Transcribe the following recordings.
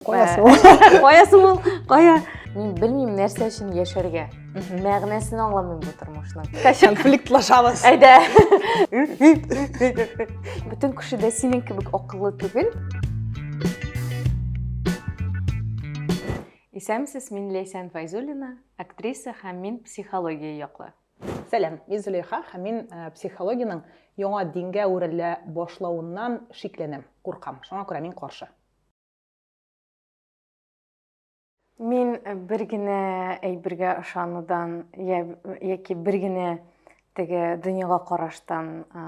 кая соң кая соң ул кая мин белмим нәрсә өчен яшәргә мәгънәсен аңламыйм бу тормышның конфликтлашабыз әйдә бөтен кеше дә синең кебек акыллы түгел Исәмсез, мин Ләйсән Файзуллина, актриса һәм мин психология яклы. Сәлам, мин Зөләйха һәм мин э, психологиянең яңа дингә үрелә башлавыннан шикләнәм, куркам. Шуңа күрә мин каршы. Мин э, бер генә әйбергә ышанудан я, яки бер генә теге дөньяга караштан ә,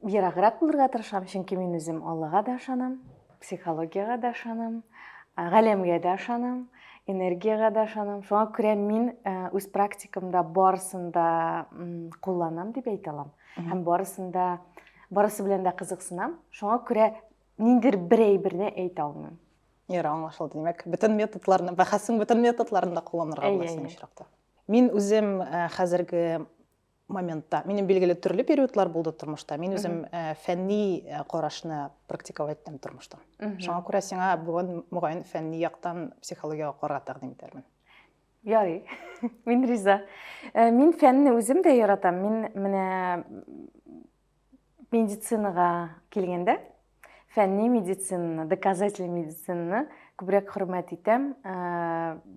ераграк булырга тырышам, чөнки мин үзем Аллага да ышанам, психологиягә дә ышанам, ә, галәмгә дә ышанам, энергиягә дә ышанам. Шуңа күрә мин ә, үз практикамда барысын да кулланам дип әйтә алам. Һәм барысын да барысы белән дә кызыксынам. Шуңа күрә Ниндер бер әйберне әйтә алмыйм. Ярый, аңлашылды. Димәк, бөтен методларны, бәхәсең бөтен методларын да кулланырга була синең очракта. Мин үзем э, хәзерге моментта, минем билгеле төрле периодлар булды тормышта. Мин үзем э, фәнни э, карашны практиковать иттем тормышта. Шуңа күрә сиңа бүген мөгаен фәнни яктан психологиягә карарга тәкъдим итәрмен. Ярый. Мин риза. Мин фәнне үзем дә яратам. Мин менә Медицинага килгәндә, фәнни медицинаны, доказательный медицинаны күбрәк хөрмәт итәм.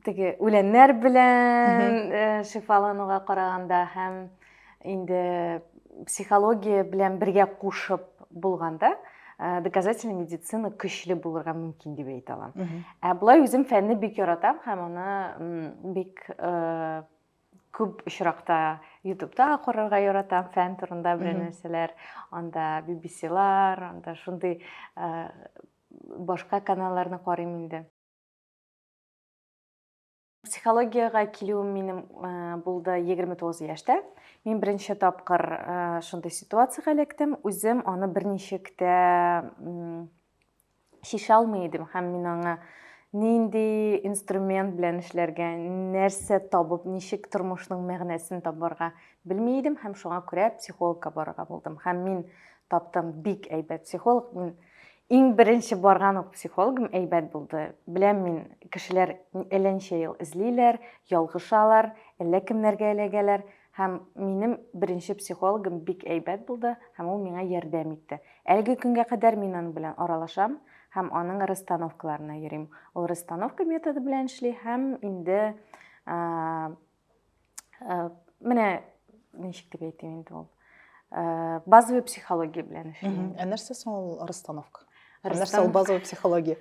Теге үләннәр белән шифалануга караганда һәм инде психология белән бергә кушып булганда, доказательный медицина көчле булырга мөмкин дип әйтә алам. Ә болай үзем фәнне бик яратам һәм аны бик күп очракта ютубта карарга яратам фән турында бер нәрсәләр анда BBC-лар анда шундый башка каналларны карыйм инде психологиягә килүем минем булды егерме тугыз яшьтә мин беренче тапкыр шундый ситуациягә эләктем үзем аны берничек тә чишә алмый идем һәм мин аңа нинди инструмент белән эшләргә, нәрсә табып, ничек тормышның мәгънәсен табарга белми идем һәм шуңа күрә психологка барырга булдым. Һәм мин таптым бик әйбәт психолог. Мин иң беренче барган ук психологым әйбәт булды. Беләм мин, кешеләр әллә ничә ел эзлиләр, ялгышалар, әллә кемнәргә эләгәләр. Һәм минем беренче психологым бик әйбәт булды, һәм ул миңа ярдәм итте. Әлеге көнгә кадәр мин аның белән аралашам һәм аның расстановкаларына йөрим. Ул расстановка методы белән эшли һәм инде менә ничек дип әйтим инде ул э, базовый психология белән эшлим ә нәрсә соң ул расстановка нәрсә ул базовый психология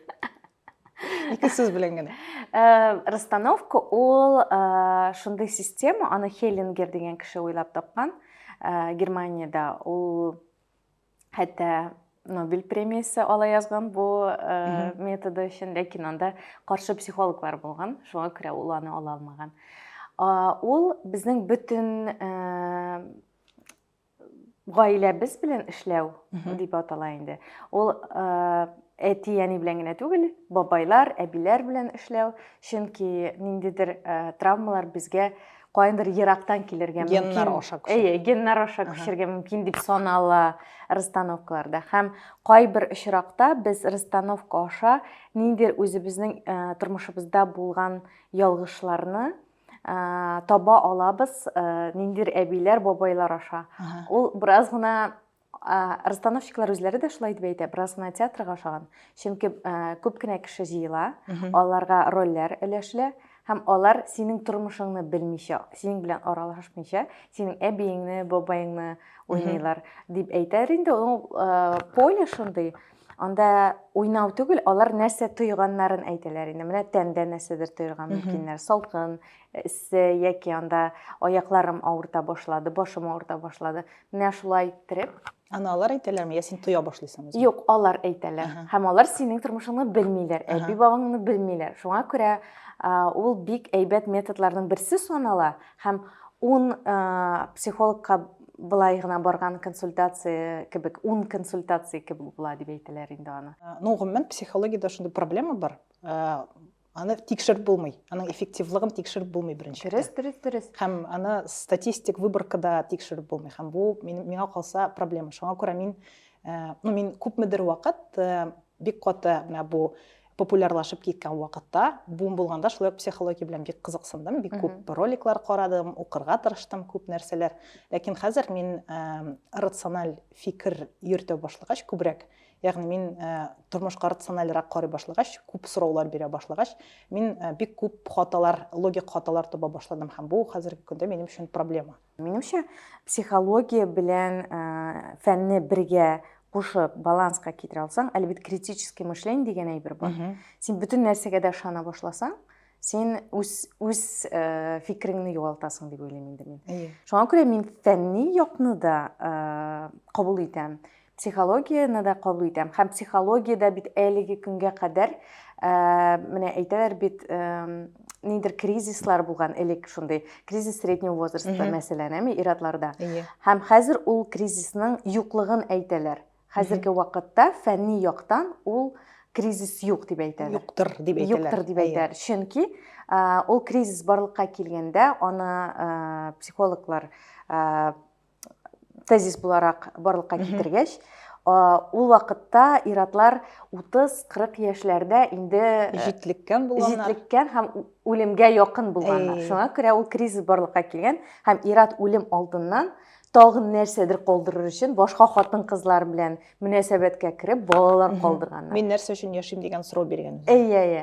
ике сүз белән генә э, расстановка ул э, шундый система аны хеллингер дигән кеше уйлап тапкан э, германиядә ул хәтта нобель премиясе ала язган бу методы өчен ләкин анда каршы психологлар булган шуңа күрә ул аны ала алмаган ул безнең бөтен гаиләбез белән эшләү дип атала инде. Ул әти-әни белән генә түгел, бабайлар, әбиләр белән эшләү, чөнки ниндидер травмалар безгә кайындыр ерактан килергә мөмкин. Геннар аша күчер. Әйе, геннар аша күчергә мөмкин дип санала расстановкаларда. Һәм кайбер очракта без расстановка аша ниндидер үзебезнең тормышыбызда булган ялгышларны ә, таба алабыз ә, ниндидер әбиләр, бабайлар аша. Ага. Ул бераз гына ә, расстановщиклар үзләре дә шулай дип әйтә, бераз гына театрга ошаган. Чөнки ә, күп кенә кеше җыела, аларга рольләр өләшелә һәм алар синең тормышыңны белмичә, синең белән аралашмыйча, синең әбиеңне, бабаеңны уйныйлар дип әйтәр инде. Ул поле шундый. Анда уйнау түгел, алар нәрсә тойганнарын әйтәләр инде. Менә тәндә нәрсәдер тоярга мөмкиннәр. Салкын, эссе яки анда аякларым авырта башлады, башым авырта башлады. Менә шулай иттереп. Аны алар әйтәләрме, я син тоя башлыйсың? Юк, алар әйтәләр. Һәм алар синең тормышыңны белмиләр, әби бабаңны белмиләр. Шуңа күрә ул бик әйбәт методларның берсе санала һәм ун психологка былай гына барган консультация кебек ун консультация кебек була дип әйтәләр инде аны э, ну гомумән психологиядә шундый проблема бар э, аны тикшереп булмый аның эффективлыгын тикшереп булмый беренче дөрес дөрес дөрес һәм аны статистик выборкада тикшереп булмый һәм бу миңа калса проблема шуңа күрә мин э, ну мин күпмедер вакыт бик каты менә бу популярлашып киткән вакытта, бум булганда шулай ук психология белән бик кызыксындым, бик күп роликлар карадым, укырга тырыштым күп нәрсәләр. Ләкин хәзер мин рациональ фикер йөртә башлагач, күбрәк, ягъни мин тормышка рациональрак карый башлагач, күп сораулар бирә башлагач, мин бик күп хаталар, логик хаталар таба башладым һәм бу хәзерге көндә минем өчен проблема. Минемчә, психология белән ә, фәнне бергә кушып баланска китерә алсаң, әле бит критический мышление дигән әйбер бар. Син бөтен нәрсәгә дә ышана башласаң, син үз үз э, фикереңне югалтасың дип уйлыйм инде мин. Шуңа күрә мин фәнни якны да э, кабул итәм. Психологияне дә кабул итәм. Һәм психологиядә бит әлеге көнгә кадәр, ә, менә әйтәләр бит, ә, нидер кризислар булган элек шундый. Кризис среднего возраста, mm -hmm. мәсәлән, әме иратларда. Yeah. Иә. Һәм хәзер ул кризисның юклыгын әйтәләр. Хәзерге mm -hmm. вакытта фәнни яктан ул кризис юк дип әйтәләр. Юктыр дип әйтәләр. Юктыр дип иә. әйтәләр. Чөнки ул кризис барлыкка килгәндә аны психологлар тезис буларак барлыкка китергәч, ул вакытта иратлар 30-40 яшьләрдә инде җитлеккән булганнар. Җитлеккән һәм үлемгә якын булганнар. Шуңа күрә ул кризис барлыкка килгән һәм ират үлем алдыннан тагын нәрсәдер калдырыр өчен башка хатын-кызлар белән мөнәсәбәткә кереп, балалар калдырганнар. Мин нәрсә өчен яшим дигән сорау биргән. Әйе, әйе.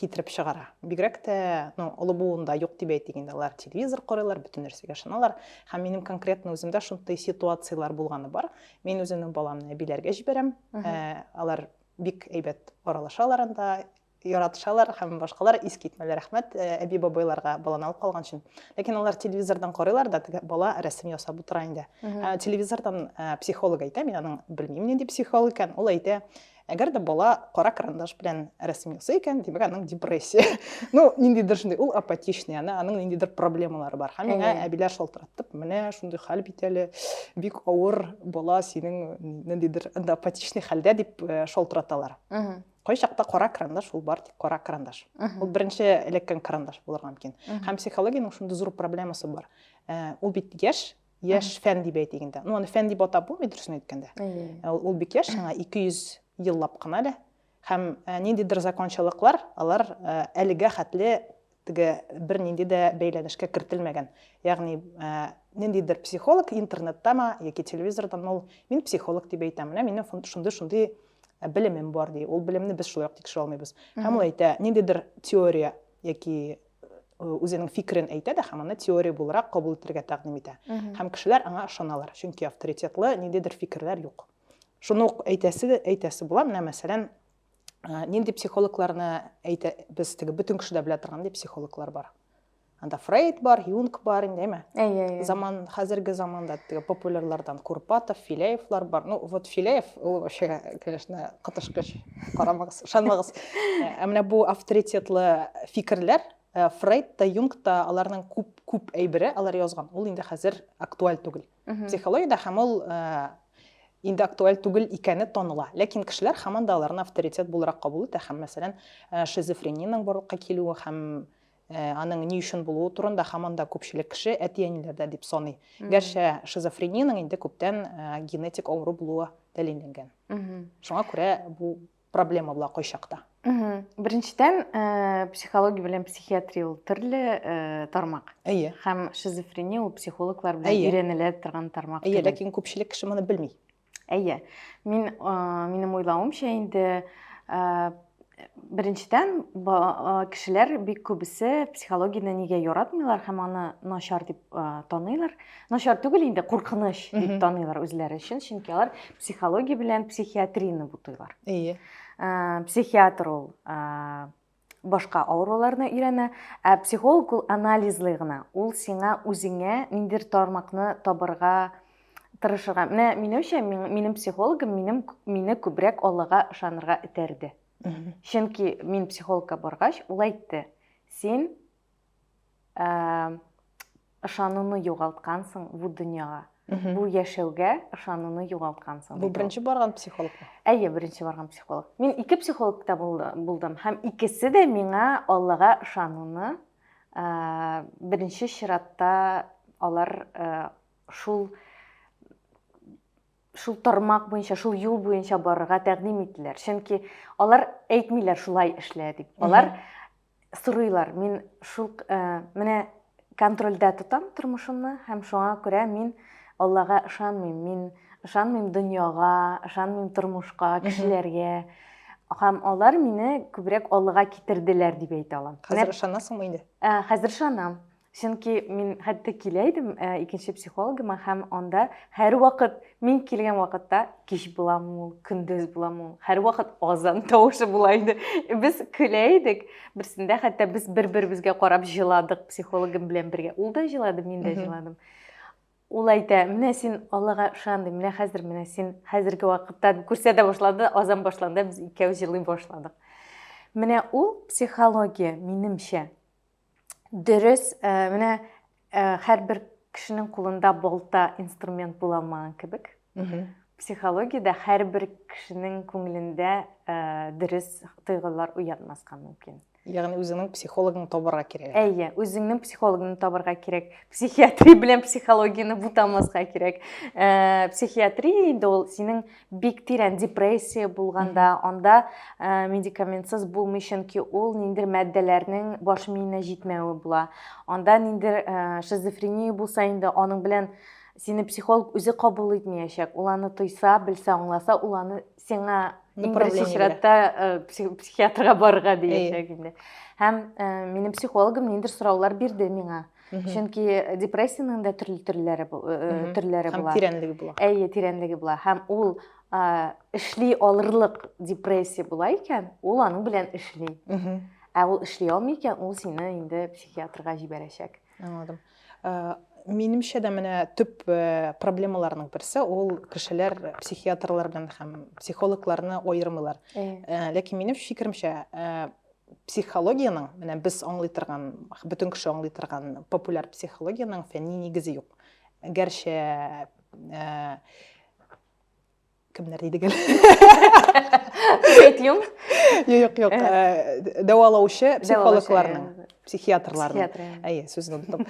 китереп чыгара. Бигрәк тә, ну, олы буында юк дип әйтик инде, алар телевизор карыйлар, бөтен нәрсәгә ышаналар. Һәм минем конкретно үземдә шундый ситуацияләр булганы бар. Мин үземнең баламны әбиләргә җибәрәм. Ә, алар бик әйбәт аралашалар анда, яратышалар һәм башкалар ис китмәләр. Рәхмәт э, әби бабайларга баланы алып калган өчен. Ләкин алар телевизордан карыйлар да, теге бала рәсем ясап утыра инде. Ә, телевизордан ә, э, психолог әйтә, мин аның белмим нинди психолог икән, ул әйтә, Әгәр дә бала кара карандаш белән рәсем ясый икән, димәк, аның депрессия. Ну, ниндидер шундый, ул апатичный, аны, аның ниндидер проблемалары бар. Һәм миңа әбиләр шалтыраттып, менә шундый хәл бит әле, бик авыр бала синең ниндидер анда апатичный хәлдә дип э, шалтыраталар. Кайчакта кара карандаш ул бар, тик кара карандаш. Ул беренче эләккән карандаш булырга мөмкин. Һәм психологиянең шундый зур проблемасы бар. Э, ул бит яшь, яшь фән дип әйтик инде ну аны фән дип атап булмый дөресен әйткәндә ә, ул бик яшь аңа 200 еллап кына әле һәм ә, ниндидер закончалыклар алар ә, әлегә хәтле теге бернинди дә бәйләнешкә кертелмәгән ягъни ниндидер психолог интернеттамы яки телевизордан ул мин психолог дип әйтәм менә минем шундый шундый белемем бар ди ул белемне без шулай ук тикшерә алмыйбыз һәм ул әйтә ниндидер теория яки үзенең фикерен әйтә дә һәм аны теория буларак кабул итәргә тәкъдим итә һәм кешеләр аңа ышаналар чөнки авторитетлы ниндидер фикерләр юк шуны ук әйтәсе әйтәсе була менә мәсәлән нинди психологларны әйтә без теге бөтен кеше дә белә торган дип психологлар бар анда фрейд бар юнг бар инде әйме әйе заман хәзерге заманда теге популярлардан курпатов филеевлар бар ну вот филеев ул вообще конечно кытышкыч карамагыз ышанмагыз ә менә бу авторитетлы фикерләр Э, фрейд та юнг та аларның күп күп әйбере алар язган ул инде хәзер актуаль түгел психологиядә һәм ул э, инде актуаль түгел икәне таныла ләкин кешеләр һаман да аларны авторитет буларак кабул итә һәм мәсәлән э, шизофрениянең барлыкка килүе һәм Аның ни өчен булуы турында һаман да күпчелек кеше әти-әниләрдә дип саный. Гәрчә шизофрениянең инде күптән генетик авыру булуы дәлилләнгән. Шуңа күрә бу проблема була кайчакта. Беренчедән, психология белән психиатрия ул төрле тармак. Әйе. Һәм шизофрения ул психологлар белән өйрәнелә торган тармак. Әйе, ләкин күпчелек кеше моны белми. Әйе, мин, минем уйлавымча инде, беренчедән кешеләр бик күбесе психологияне нигә яратмыйлар һәм аны начар дип таныйлар начар түгел инде куркыныч дип таныйлар үзләре өчен чөнки алар психология белән психиатрияны бутыйлар әйе психиатр ул башка авыруларны өйрәнә, ә психолог ул анализлый гына, ул сиңа үзеңә ниндидер тармакны табырга тырышырга. Менә минемчә, минем психологым минем мине күбрәк Аллага ышанырга этәрде. Чөнки мин психологка баргач, ул әйтте, син ә, ышануны югалткансың бу дөньяга. Бу яшәүгә ышануны югалткансың. Бу беренче барган психолог. Әйе, беренче барган психолог. Мин ике психологта булдым һәм икесе дә миңа Аллага ышануны ә, беренче чиратта алар ә, шул шул тармак буенча, шул юл буенча барырга тәкъдим иттеләр. Чөнки алар әйтмиләр шулай эшлә дип. Алар сорыйлар. Мин шул менә контрольдә тотам тормышымны һәм шуңа күрә мин Аллага ышанмыйм. Мин ышанмыйм дөньяга, ышанмыйм тормышка, кешеләргә. Һәм алар мине күбрәк Аллага китерделәр дип әйтә алам. Хәзер ышанасыңмы инде? Хәзер ышанам. Чөнки мин хәтта килә идем э, икенче психологыма һәм анда һәрвакыт мин килгән вакытта кич буламы ул, көндез буламы ул, һәрвакыт азан тавышы була иде. Без көлә идек. Берсендә хәтта без бер-беребезгә карап җыладык психологым белән бергә. Ул да җылады, мин дә җыладым ул әйтә менә син аллага ышан ди менә хәзер менә син хәзерге вакытта күрсәтә башлады азан башланды без икәү җылый башладык менә ул психология минемчә Дөрес, э, менә э, һәрбер кешенең кулында болта инструмент була алмаган кебек. Психологиядә һәрбер кешенең күңелендә э, дөрес тойгылар уятмаска мөмкин. Ягъни үзеңнең психологын табарга кирәк. Әйе, үзеңнең психологын табарга кирәк. Психиатри белән психологияне бутамаска кирәк. Э, психиатри инде ул синең бик тирән депрессия булганда анда ә, медикаментсыз булмый чөнки ул ниндидер матдәләрнең баш миенә җитмәве була анда ниндидер ә, шизофрения булса инде аның белән сине психолог үзе кабул итмәячәк ул аны тойса белсә аңласа ул аны сиңа иң беренче чиратта ә, психиатрга барырга диячәк инде һәм ә, минем психологым ниндидер сораулар бирде миңа чөнки депрессиянең дә төрле төрләре төрләре була һәм тирәнлеге була әйе тирәнлеге була һәм ул эшли алырлык депрессия була икән ул аның белән эшли ә ул эшли алмый икән ул сине инде психиатрга җибәрәчәк аңладым минемчә дә менә төп э, проблемаларның берсе ул кешеләр психиатрлар белән һәм психологларны аермыйлар э, ләкин минем фикеремчә э, психологиянең менә без аңлый торган бөтен кеше аңлый торган популяр психологиянең фәнни нигезе юк гәрчә э, кемнәр дидек әле юк юк юк э, дәвалаучы психологларның психиатрларның әйе сүзен оныттым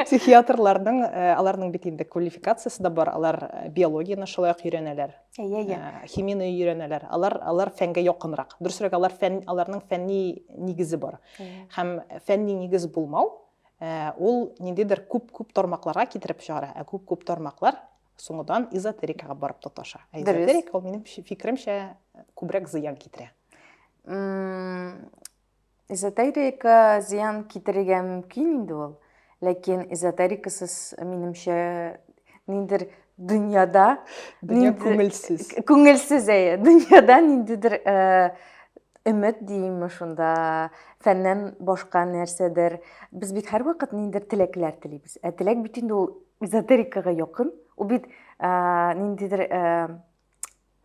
психиатрларның э, аларның бит инде квалификациясы да бар алар биологияны шулай ук өйрәнәләр Әйе, әйе. Э, химияне өйрәнәләр. Алар алар фәнгә якынрак. Дөресрәк, алар фән аларның фәнни нигезе бар. Һәм фәнни нигез булмау, э, ул ниндидер күп-күп тармакларга китереп чыгара. Ә күп-күп тармаклар соңыдан эзотерикага барып тоташа. Ә эзотерика ул минем фикеремчә күбрәк зыян китерә. Эзотерика зыян китерергә мөмкин инде ул, ләкин эзотерикасыз, минемчә, ниндер дөньяда, дөнья күңелсез. Күңелсез, әйе, дөньяда ниндидер өмет дейме шунда, фәннән башка нәрсәдер. Без бит һәрвакыт ниндер теләкләр телибез. Ә теләк бит инде ул эзотерикага якын. Ул бит ниндидер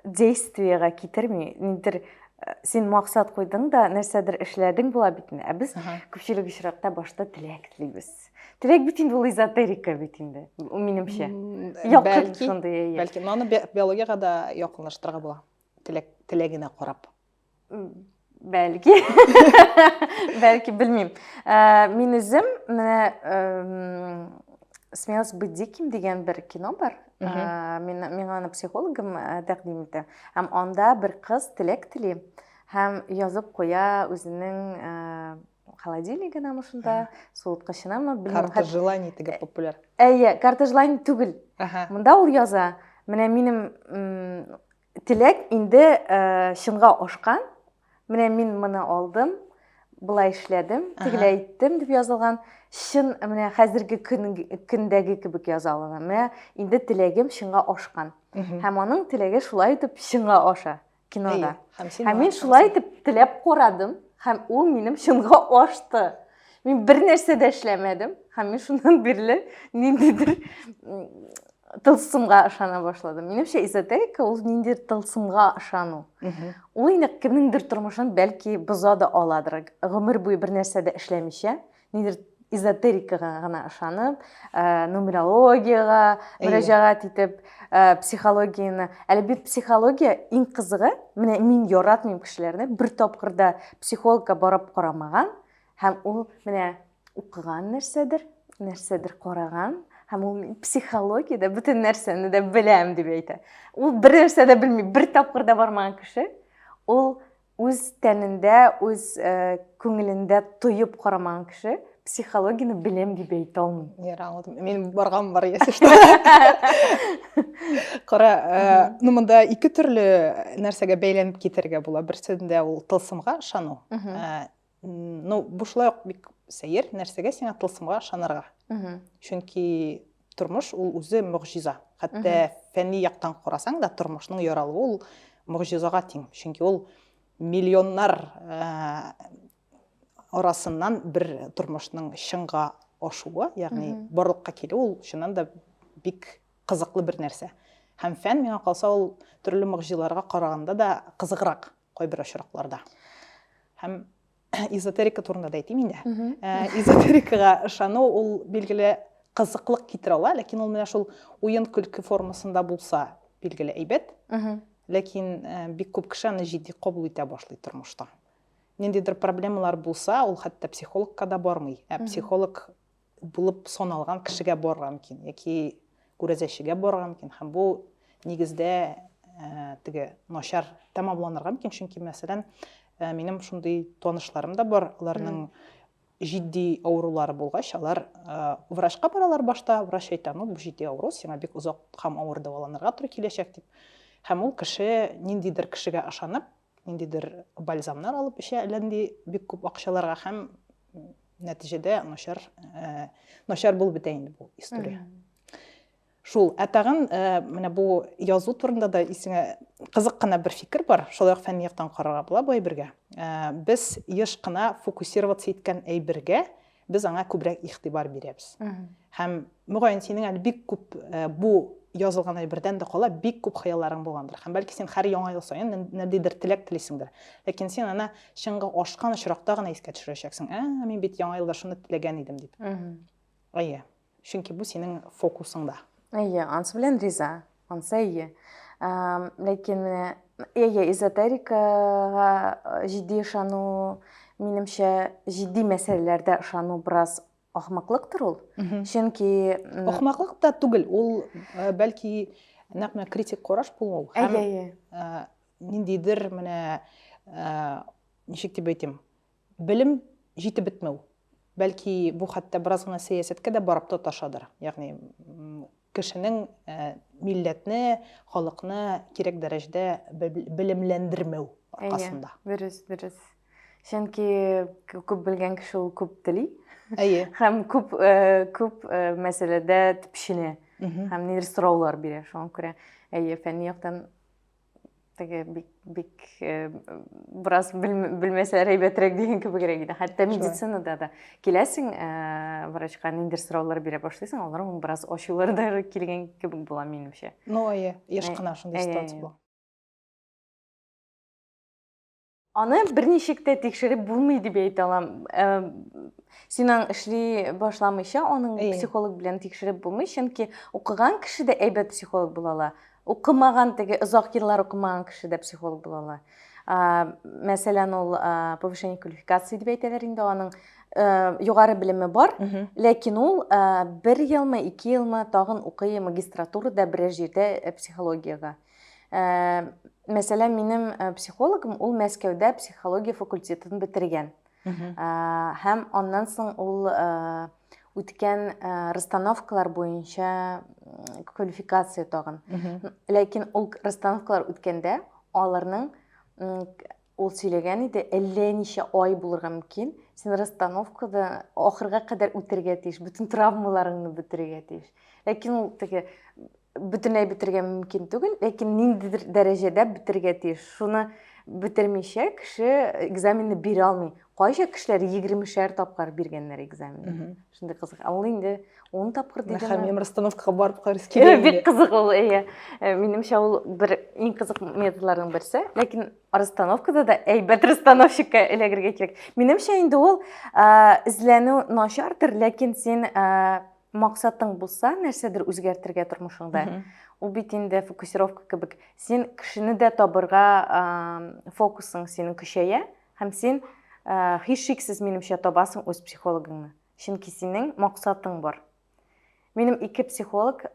действиега китерми нидер Э, син максат куйдың да нәрсәдер эшләдең була бит инде ә без күпчелек очракта башта теләк телибез теләк бит инде ул эзотерика бит инде минемчә бәлки шундый бәлки но аны биологияга да якынлаштырырга була теләк теләгенә карап Бәлки. Бәлки, белмим. Э, мин үзем менә Смелость быть диким дигән бер кино бар. Э, мин миңа аны психологым э, тәкъдим итә. Һәм анда бер кыз теләк тели һәм язып куя үзенең холодильнигына мышында, суыткычынамы, белмим. Карта желаний теге популяр. Әйе, карта желаний түгел. Монда ул яза. Менә минем Теләк инде чынга ашкан. Менә мин моны алдым, былай эшләдем, тегеләй иттем дип язылган. Чын менә хәзерге көн, көндәге кебек яза алам. Менә инде теләгем чынга ашкан. Һәм аның теләге шулай итеп чынга аша кинода. Һәм мин шулай итеп теләп карадым, һәм ул минем чынга ашты. Мин бер нәрсә дә эшләмәдем. Һәм мин шуннан бирле ниндидер тылсымга ышана башладым. Минемчә эзотерика ул ниндидер тылсымга ышану. Ул инде кемнеңдер тормышын бәлки боза да аладыр. Гомер буе бер нәрсә дә эшләмичә, ниндидер эзотерикага гына ышанып, э, нумерологиягә мөрәҗәгать итеп, Э, психологияне әле бит психология иң кызыгы менә мин яратмыйм кешеләрне бер тапкырда психологка барып карамаган һәм ул менә укыган нәрсәдер нәрсәдер караган һәм ул психологиядә бөтен нәрсәне дә беләм дип әйтә ул бер нәрсә дә белми бер тапкыр да бармаган кеше ул үз тәнендә, үз э, күңелендә тоеп карамаган кеше психологияне беләм дип әйтә алмый. Ярый, аңладым. Мин барган бар ясәш. Кара, э, ну монда ике төрле нәрсәгә бәйләнеп китәргә була. Берсендә ул тылсымга ышану. Э, ну бушлай ук бик сәер нәрсәгә сиңа тылсымга ышанырга чөнки тормыш ул үзе могҗиза хәтта фәнни яктан карасаң да тормышның яралуы ул могҗизага тиң чөнки ул миллионнар арасыннан бер тормышның чынга ашуы ягъни барлыкка килү ул чыннан да бик кызыклы бер нәрсә һәм фән миңа калса ул төрле могҗизаларга караганда да кызыграк кайбер очракларда. Һәм эзотерика турында да әйтим инде. Э, эзотерикага ышану ул билгеле кызыклык китерә ала, ләкин ул менә шул уен көлке формасында булса, билгеле әйбәт. Ләкин э, бик күп кеше аны җитди кабул итә башлый тормышта. Ниндидер проблемалар булса, ул хәтта психологка да бармый. Ә психолог булып саналган кешегә барырга мөмкин яки күрәзәчегә барырга мөмкин һәм бу нигездә ә, теге начар тәмамланырга мөмкин чөнки мәсәлән ә, минем шундый танышларым да бар аларның җитди авырулары булгач алар ә, врачка баралар башта врач әйтә ну бу җитди авыру сиңа бик озак һәм авыр дәваланырга туры киләчәк дип һәм ул кеше ниндидер кешегә ышанып ниндидер бальзамнар алып эчә, әллә нинди бик күп акчаларга һәм нәтиҗәдә начар э, начар булып бетә инде бу история. Шул, ә тагын э, менә бу язу турында да исеңә кызык кына бер фикер бар, шулай ук фәнни яктан карарга була бу әйбергә. Э, без еш кына фокусироваться иткән әйбергә Без аңа күбрәк игътибар бирәбез. Һәм, мөгаен, синең әле бик күп э, бу язылган әйбердән дә кала бик күп хыялларың булгандыр. Һәм бәлки син һәр яңа ел саен нәрдидер теләк телисеңдер. Ләкин син аны чыңга ашкан очракта гына искә төшерәчәксең. Ә, мин бит яңа елда шуны теләгән идем дип. Әйе. Чөнки бу синең фокусыңда. Әйе, ансы белән риза. Ансы әйе. Ләкин менә әйе, эзотерикага җитди ышану, минемчә, җитди мәсьәләләрдә ышану бераз ахмаклыктыр ул. Чөнки ахмаклык та түгел, ул э, бәлки нәкъ менә критик караш булу һәм э, ниндидер менә э, ничек дип әйтим, Белем җитеп бетмәү. Бәлки, бу хәтта бераз гына сәясәткә дә барып тоташадыр. Ягъни, кешенең милләтне, халыкны кирәк дәрәҗәдә белемләндермәү аркасында. Әйе, дөрес, дөрес. Чөнки күп белгән кеше ул күп тели. Әйе. Һәм күп күп мәсьәләдә төпченә. Һәм нидер сораулар бирә. Шуңа күрә, әйе, фәнни яктан теге бик бик э, бераз белмәсәләр әйбәтрәк дигән кебегрәк иде хәтта медицинада да киләсең э, врачка ниндидер сораулар бирә башлыйсың алар моң бераз ачулары да килгән кебек була минемчә ну әйе еш кына шундый ситуация була Аны берничек тә тикшереп булмый дип әйтә алам. Син аны эшли башламыйча, аның психолог белән тикшереп булмый, чөнки укыган кеше дә әйбәт психолог була ала. Укымаган теге озак еллар укымаган кеше дә психолог була ала. Мәсәлән, ул повышение квалификации дип әйтәләр инде, аның югары белеме бар, ләкин ул бер елмы, ике елмы тагын укый магистратурада берәр җирдә психологиягә. Ә, мәсәлән, минем э, психологым ул Мәскәүдә психология факультетын бетергән. Ә, һәм аннан соң ул ә, үткән ә, расстановкалар буенча квалификация тагын. Ләкин ул расстановкалар үткәндә аларның Ул сөйләгән иде, әллә ничә ай булырга мөмкин, син расстановкада ахырга кадәр үтәргә тиеш, бөтен травмаларыңны бетерергә тиеш. Ләкин ул теге бөтенләй бетергә мөмкин түгел, ләкин ниндидер дәрәҗәдә бетергә тиеш. Шуны бетермичә кеше экзаменны бирә алмый. Кайча кешеләр 20 шәр тапкыр биргәннәр экзаменны. шундай кызык ал инде он тапкыр дидеме һәм мен расстановкаға барып карыйсы килә бик кызык ул иә минемчә ул бер иң кызык методларның берсе ләкин расстановкада да әйбәт расстановщикка эләгергә кирәк минемчә инде ул эзләнү начардыр ләкин син максатың булса нәрсәдер үзгәртергә тормышыңда ул бит инде фокусировка кебек син кешене дә табырга фокусың синең көчәя Һәм син, һичшиксез, минемчә, табасың үз психологыңны. Чөнки синең максатың бар. Минем ике психолог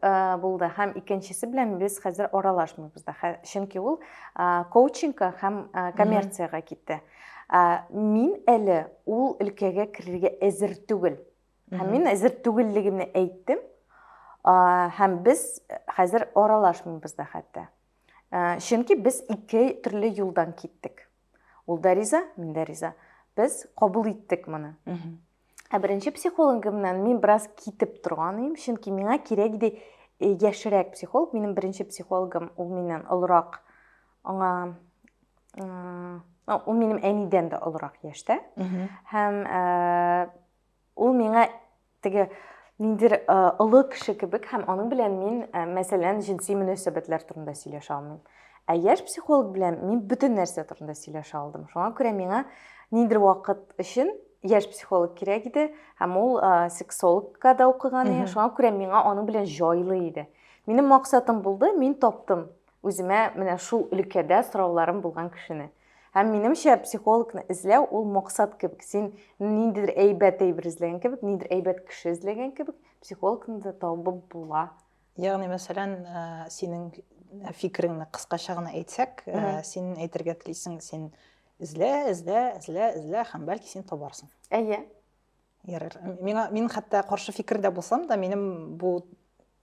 булды һәм икенчесе белән без хәзер аралашмыйбыз да. Чөнки ул коучингка һәм коммерциягә китте. Мин әле ул өлкәгә керергә әзер түгел. Һәм мин әзер түгеллегемне әйттем. Һәм без хәзер аралашмыйбыз да хәтта. Чөнки без ике төрле юлдан киттек. Ул да риза, мин дә риза. Без кабул иттек моны. Ә беренче психологымнан мин бераз китеп торган идем, чөнки миңа кирәк иде э, яшерәк психолог. Минем беренче психологым ул миннән олырак. Аңа ул минем әнидән дә олырак яшьтә. Һәм э, Ул миңа теге ниндидер олы кеше кебек һәм аның белән мин, мәсәлән, җенси мөнәсәбәтләр турында сөйләшә алмыйм. Ә яшь психолог белән мин бөтен нәрсә турында сөйләшә алдым. Шуңа күрә миңа ниндидер вакыт өчен яшь психолог кирәк иде, һәм ул сексологка да укыган иде. Шуңа күрә миңа аның белән җайлы иде. Минем максатым булды, мин таптым. Үземә менә шул өлкәдә сорауларым булган кешене. Һәм минемчә, психологны эзләү ул максат кебек. Син ниндидер әйбәт әйбер эзләгән кебек, ниндидер әйбәт кеше эзләгән кебек, психологны да табып була. Ягъни, мәсәлән, э, синең фикереңне кыскача гына әйтсәк, э, син әйтергә телисең, син эзлә, эзлә, эзлә, эзлә һәм бәлки син табарсың. Әйе. Ярар. Миңа мин хәтта каршы фикердә булсам да, минем бу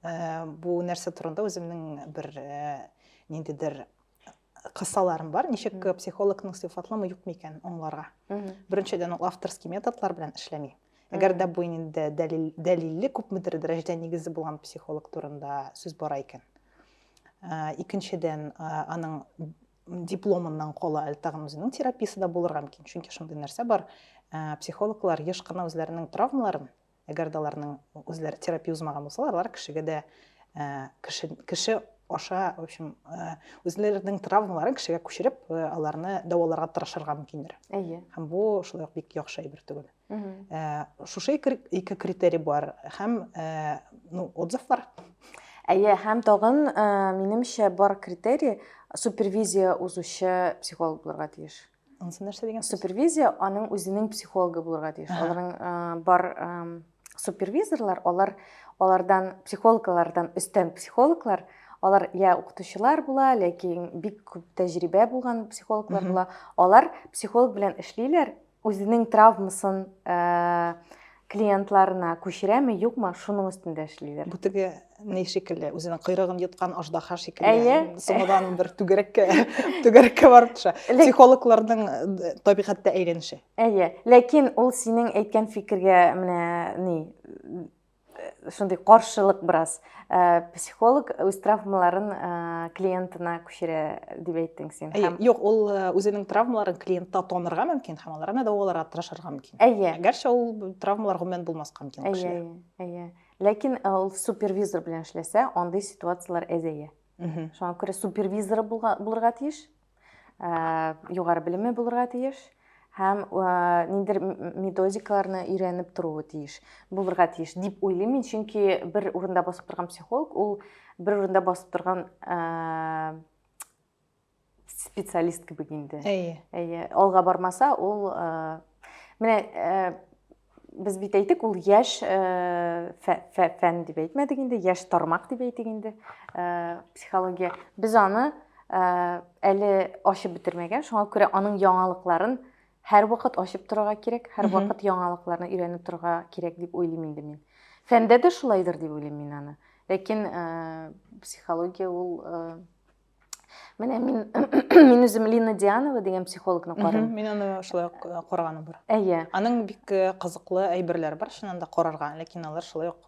э, бу нәрсә турында үземнең бер э, ниндидер кысаларым бар. Ничек психологның сыйфатламы юк микән аңларга? Беренчедән, ул авторский методлар белән эшләми. Әгәр дә бу инде дәлил дәлилле күпмедер дәрәҗәдә нигезе булган психолог турында сүз бара икән. Э, икенчедән, аның дипломыннан кала әле тагын үзенең терапиясе дә булырга мөмкин чөнки шундый нәрсә бар ә, психологлар еш кына үзләренең травмаларын әгәр дә аларның үзләре терапия узмаган булсалар алар кешегә дә ә, кеше, кеше аша в общем ә, үзләренең травмаларын кешегә күчереп ә, аларны дәваларга тырышырга мөмкиндер әйе һәм бу шулай ук бик яхшы әйбер түгел Э, шушы ике критерий бар һәм э, ну отзыв бар әйе һәм тагын э, минемчә бар критерий супервизия узучы психолог булырга тиеш анысы нәрсә дигән супервизия аның үзенең психологы булырга тиеш аларның бар супервизорлар алар алардан психологлардан өстән психологлар алар я укытучылар була ләкин бик күп тәҗрибә булган психологлар була алар психолог белән эшлиләр Үзенең травмасын э, клиентларына күчерәме, юкмы, шуның өстендә эшлиләр. Бу теге ни шикелле, үзенең койрыгын йоткан аждаһа шикелле. Әйе. Соңыдан бер түгәрәккә, түгәрәккә барып төшә. Психологларның э, табигатьтә әйләнеше. Әйе. Ләкин ул синең әйткән фикергә менә ни шундый каршылык бераз э, психолог үз травмаларын э, клиентына күчерә дип әйттең син әйе юк ул э, үзенең травмаларын клиентта танырга мөмкин һәм аларны дәваларга тырышырга мөмкин әйе әгәрчә ул травмалар гомумән булмаска мөмкин әйе әйе ләкин ул супервизор белән эшләсә андый ситуациялар әзәя шуңа күрә супервизоры булырга тиеш югары белеме булырга тиеш һәм ниндидер методикаларны өйрәнеп торуы тиеш булырга тиеш дип уйлыйм мин чөнки бер урында басып торган психолог ул бер урында басып торган специалист кебек инде әйе әйе алга бармаса ул менә Без бит әйтик, ул яшь фән дип әйтмәдек инде, яшь тармак дип әйтик инде, психология. Без аны әле ачып бетермәгән, шуңа күрә аның яңалыкларын һәр вакыт ачып торырга кирәк, һәр вакыт яңалыкларны өйрәнеп торырга кирәк дип уйлыйм инде мин. Фәндә дә шулайдыр дип уйлыйм мин аны. Ләкин психология ул Менә мин мин үзем Лина Дианова дигән психологны карыйм. Мин аны шулай ук э, караганым бар. Әйе. Аның бик э, кызыклы әйберләре бар, чыннан да карарга, ләкин алар шулай ук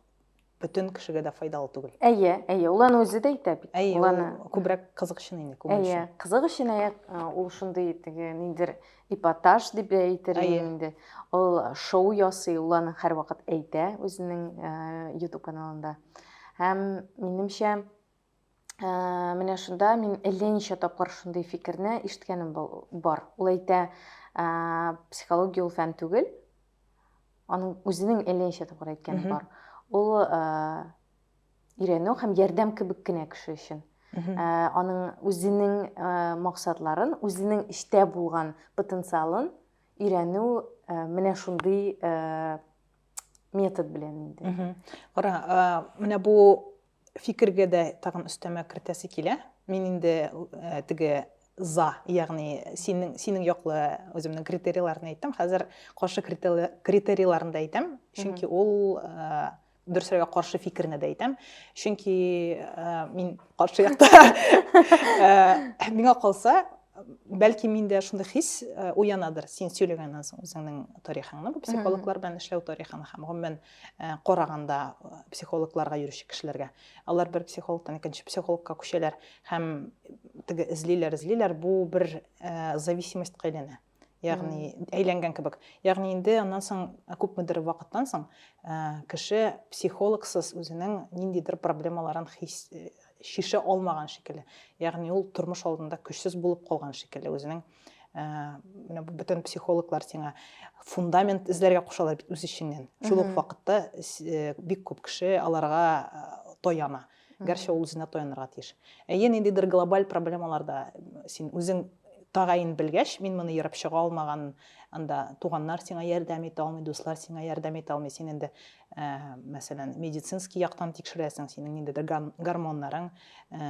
бөтен кешегә дә файдалы түгел. Әйе, әйе, ул аны үзе дә әйтә бит. Әйе, ул аны күбрәк кызык өчен инде, күңел өчен. Әйе, кызык өчен әйе, э, ул шундый теге ниндер эпатаж дип әйтер инде. Ул шоу ясый, ул аны һәрвакыт әйтә үзенең YouTube каналында. Һәм минемчә, ә, менә шунда мин әллә ничә тапкыр шундый фикерне ишеткәнем бар. Ул әйтә, ә, психология ул фән түгел. Аның үзенең әллә ничә тапкыр әйткәне бар. Ул ә, өйрәнү һәм ярдәм кебек кенә кеше өчен. Ә, аның үзенең ә, максатларын, үзенең эчтә булган потенциалын өйрәнү ә, менә шундый ә, метод белән инде. Кара, ә, менә бу фикергә дә тагын өстәмә кертәсе килә. Мин инде теге за, ягъни синең синең яклы үземнең критерийларны әйттем. Хәзер каршы критерийларны да әйтәм, чөнки ул дөресрәгә каршы фикерне дә әйтәм. Чөнки мин каршы якта. Миңа калса, бәлки миндә шундый хис уянадыр. Син сөйләгәннән соң үзеңнең тарихыңны, бу психологлар белән эшләү тарихын һәм гомумән Э, караганда э, психологларга йөрүче кешеләргә алар бер психологтан икенче психологка күчәләр һәм теге эзлиләр эзлиләр бу бер э, зависимостька әйләнә ягъни әйләнгән кебек ягъни инде аннан соң күпмедер вакыттан соң кеше психологсыз үзенең ниндидер проблемаларын хис шише алмаган шикелле ягъни ул тормыш алдында көчсез булып калган шикелле үзенең ә, менә бу бөтен психологлар сиңа фундамент эзләргә кушалар бит үз эчеңнән шул ук вакытта э, бик күп кеше аларга э, таяна гәрчә ул үзенә таянырга тиеш әйе ниндидер глобаль проблемаларда син үзең тәгаен белгәч мин моны ерып чыга алмаган анда туганнар сиңа ярдәм итә алмый дуслар сиңа ярдәм итә алмый син инде ә, мәсәлән, медицинский яктан тикшерәсең, синең ниндидер гормоннарың, ә,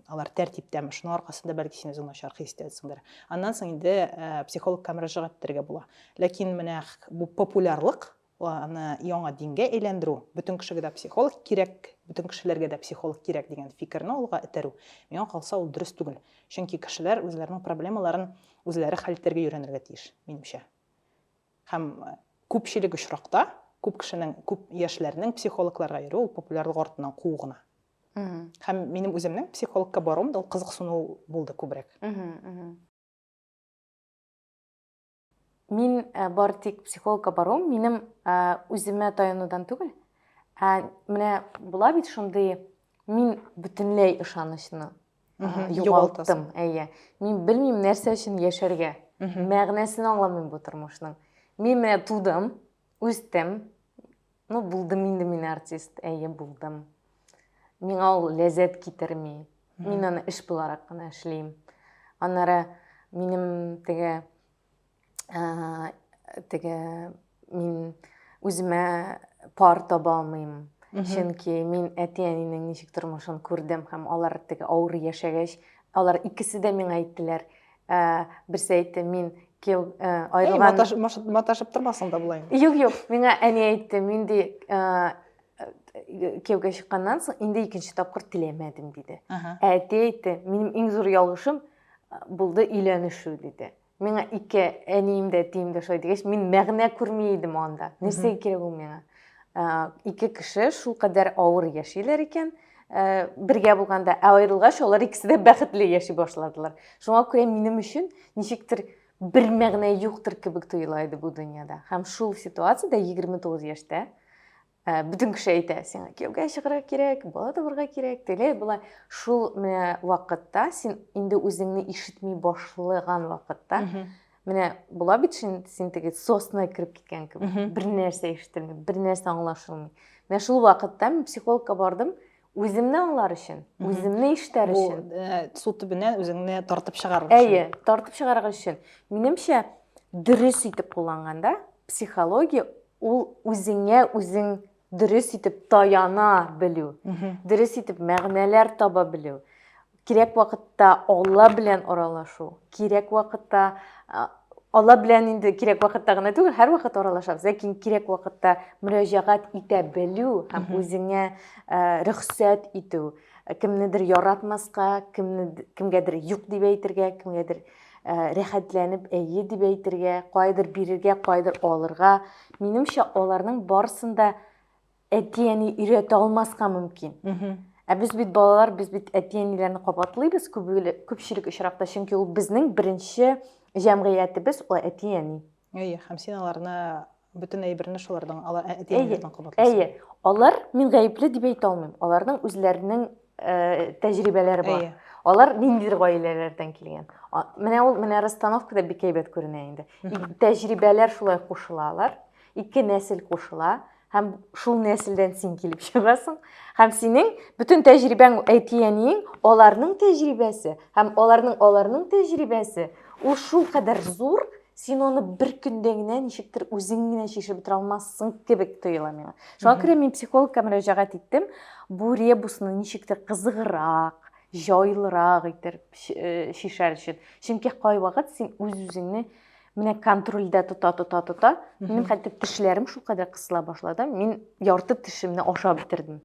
алар тәртиптәме, шуның аркасында бәлки син үзең начар хис итәсеңдер. Аннан соң инде ә, психологка мөрәҗәгать итәргә була. Ләкин менә бу популярлык, аны яңа дингә әйләндерү, бөтен кешегә дә психолог кирәк, бөтен кешеләргә дә психолог кирәк дигән фикерне алга этәрү, миңа калса ул дөрес түгел. Чөнки кешеләр үзләренең проблемаларын үзләре хәл итәргә өйрәнергә тиеш, минемчә. Һәм күпчелек очракта күп кешенең, күп яшьләрнең психологларга йөрүе ул популярлык артыннан куу гына. Һәм минем үземнең психологка баруым да ул кызыксыну булды күбрәк. Мин бары тик психологка баруым минем үземә таянудан түгел, ә менә була бит шундый, мин бөтенләй ышанычны югалтым әйе мин белмим нәрсә өчен яшәргә мәгънәсен аңламыйм бу тормышның мин менә тудым үстем ну булдым инде мин артист әйе булдым миңа ул ләззәт китерми мин аны эш буларак кына эшлим аннары минем теге теге мин үземә пар таба алмыйм чөнки мин әти әнинең ничек тормышын күрдем һәм алар теге авыр яшәгәч алар икесе дә миңа әйттеләр ә, берсе әйтте мин кияу ә, аерылган маташып тормасаң да болай юк юк миңа әни әйтте мин де кияүгә чыкканнан соң инде икенче тапкыр теләмәдем диде ә әти әйтте минем иң зур ялгышым булды өйләнешү диде Миңа ике әнием дә әтием дә шулай дигәч, мин мәгънә күрми идем анда. Нәрсәгә кирәк ул миңа? Ике кеше шул кадәр авыр яшиләр икән, бергә булганда, ә аерылгач, алар икесе дә бәхетле яши башладылар. Шуңа күрә минем өчен ничектер бер мәгънә юктыр кебек тоела иде бу дөньяда. Һәм шул ситуациядә 29 яшьтә Ә, бөтен кеше әйтә, сиңа кияүгә чыгарга кирәк, бала табарга кирәк, тегеләй болай. Шул менә вакытта син инде үзеңне ишетми башлаган вакытта, менә була бит син, син теге сосна кереп киткән кебек, бер нәрсә ишетелми, бер нәрсә аңлашылмый. Менә шул вакытта мин психологка бардым, Үземне аңлар өчен, үземне ишетәр өчен. Бу э, су төбенә үзеңне тартып чыгарыр өчен. Әйе, тартып чыгарыр өчен. Минемчә, дөрес итеп кулланганда, психология ул үзеңә үзең дөрес итеп таяна белү, дөрес итеп мәгънәләр таба белү. Кирәк вакытта Алла белән аралашу, кирәк вакытта Алла белән инде кирәк вакытта гына түгел, һәр вакыт аралашабыз, ләкин кирәк вакытта мөрәҗәгать итә белү һәм үзеңә рөхсәт итү, кемнедер яратмаска, кемне кемгәдер юк дип әйтергә, кемгәдер рәхәтләнеп әйе дип әйтергә, кайдыр бирергә, кайдыр алырга. Минемчә, аларның барсында әти-әни өйрәтә алмаска мөмкин. Ә без бит балалар, без бит әти-әниләрне кабатлыйбыз күпчелек очракта, чөнки ул безнең беренче җәмгыятебез, ул әти-әни. Әйе, һәм син аларны бөтен әйберне шулардан ала ә, әти-әниләрдән кабатлыйсың. Әйе, алар мин гаепле дип әйтә алмыйм. Аларның үзләренең э, тәҗрибәләре бар. Әйе. Алар ниндидер гаиләләрдән килгән. Менә ул менә расстановкада бик әйбәт күренә инде. Тәҗрибәләр шулай кушыла алар. Ике нәсел кушыла. Һәм шул нәселдән син килеп чыгасың. Һәм синең бүтән тәҗрибәң әти-әниең, аларның тәҗрибәсе һәм аларның аларның тәҗрибәсе ул шул кадәр зур, син аны бер көндә генә ничектер үзең генә чишеп бетерә алмассың кебек тоела миңа. Шуңа күрә мин психологка мөрәҗәгать иттем. Бу ребусны ничектер кызыграк, җайлырак итеп шишәр өчен. Чөнки кайвакыт син үз-үзеңне Менә контрольдә тота тота тота, мин хәтта тешләрем шул кадәр кысыла башлады, мин ярты тешемне ашап бетердем.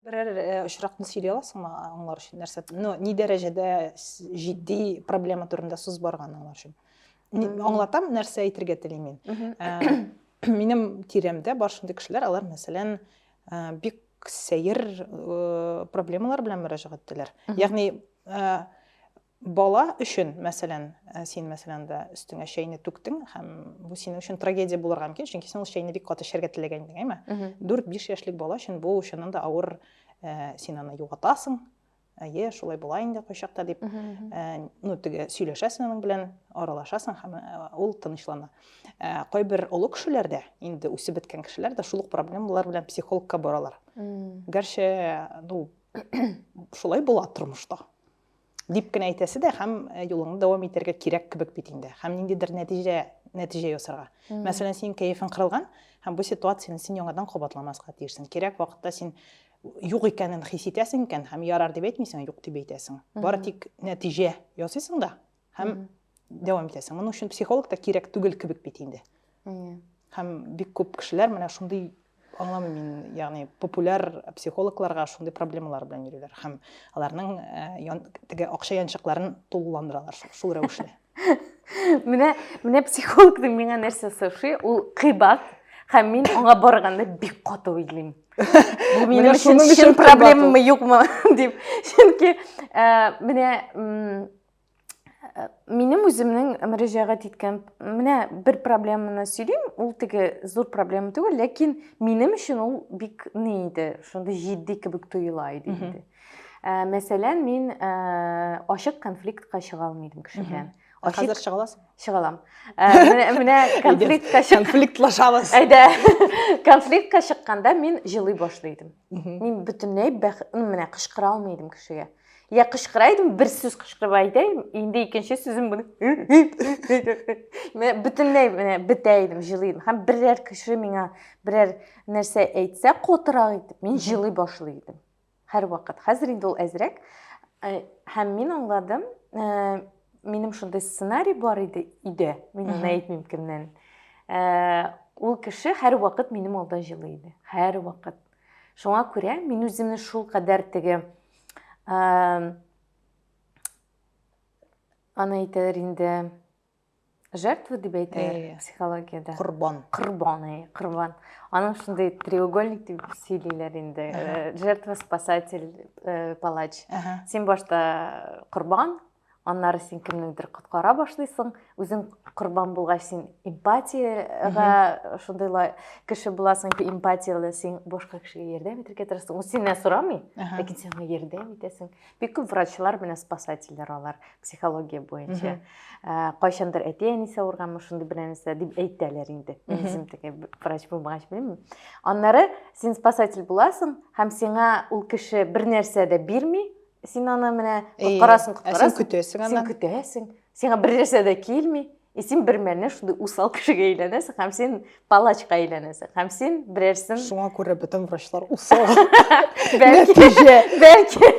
Берәр э, очракны сөйли аласыңмы аңлар өчен нәрсә? Ну, ни дәрәҗәдә җитди проблема турында сүз барган аңлар өчен? Аңлатам, нәрсә әйтергә телим мин. Э, минем тирәмдә бар шундый кешеләр, алар мәсәлән, э, бик сәер э, проблемалар белән мөрәҗәгать итәләр ягъни э, бала өчен мәсәлән э, син мәсәлән дә өстеңә чәйне түктең һәм бу синең өчен трагедия булырга мөмкин чөнки син ул чәйне бик каты эчәргә теләгән идең әйме дүрт биш яшьлек бала өчен бу чыннан да авыр син аны югатасың әйе шулай була инде кайчакта дип ә, ну теге сөйләшәсең аның белән аралашасың һәм ул тынычлана ә, кайбер олы кешеләр дә инде үсеп беткән кешеләр дә шул ук проблемалар белән психологка баралар гәрчә ну шулай була тормышта дип кенә әйтәсе дә һәм юлыңны дәвам итәргә кирәк кебек бит инде һәм ниндидер нәтиҗә нәтиҗә ясарга мәсәлән синең кәефең кырылган һәм бу ситуацияне син яңадан кабатламаска тиешсең кирәк вакытта син юк икәнен хис итәсең икән һәм ярар дип әйтмисең юк дип әйтәсең бары тик нәтиҗә ясыйсың да һәм дәвам итәсең моның өчен психолог та кирәк түгел кебек бит инде һәм бик күп кешеләр менә шундый аңламыйм мин ягъни популяр психологларга шундый проблемалар белән йөриләр һәм аларның э, теге акча янчыкларын тулыландыралар шул рәвешле Менә менә психологның миңа нәрсә соши, ул кыйбат, һәм мин аңа барганда бик каты уйлыйм. Бу минем өчен чын проблемамы юкмы дип. Чөнки менә минем үземнең мөрәҗәгать иткән менә бер проблеманы сөйлим, ул теге зур проблема түгел, ләкин минем өчен ул бик ни иде, шундый җитди кебек тоела иде инде. Ә, мәсәлән, мин ә, ачык конфликтка чыга алмыйдым кеше белән. Ачык... Хәзер чыга аласың? Чыга алам. Ә, менә, менә конфликтка чык... конфликтлашабыз. Әйдә. конфликтка чыкканда мин җылый башлыйдым. Мин бөтенләй бәх... менә кычкыра алмыйдым кешегә. Я кычкыра идем, бер сүз кычкырып әйтәм, инде икенче сүзем буны. Менә бөтенләй менә бетә идем, җылыйдым. Һәм берәр кеше миңа берәр нәрсә әйтсә, котырак итеп, мин җылый башлый идем. Һәрвакыт. Хәзер инде ул әзрәк. Э, һәм мин аңладым, э, минем шундый сценарий бар иде, иде. Мин аны әйтмим кемнән. Э, ул кеше һәрвакыт минем алда җылы иде. Һәрвакыт. Шуңа күрә мин үземне шул кадәр теге аны әйтәләр инде жертва дип әйтәләр э, психологиядә корбан корбан э, корбан аның шундый треугольник дип сөйлиләр инде э, жертва спасатель палач син башта корбан аннары син кемнеңдер коткара башлыйсың үзең корбан булгач син эмпатияга шундыйлай кеше буласың эмпатияле син башка кешегә ярдәм итәргә тырышасың ул синнән сорамый ләкин син аңа ярдәм итәсең бик күп врачлар менә спасательләр алар психология буенча ә, кайчандыр әти әнисе авырганмы шундый бер нәрсә дип әйтәләр инде мин үзем теге врач булмагач белмим аннары син спасатель буласың һәм сиңа ул кеше бер нәрсә дә бирми син аны менә коткарасың коткарасың син көтәсең аны син көтәсең сиңа бер нәрсә дә килми и син бер мәлне шундый усал кешегә әйләнәсең һәм син палачка әйләнәсең һәм син берәрсен шуңа күрә бөтен врачлар усал нәтиҗә бәлки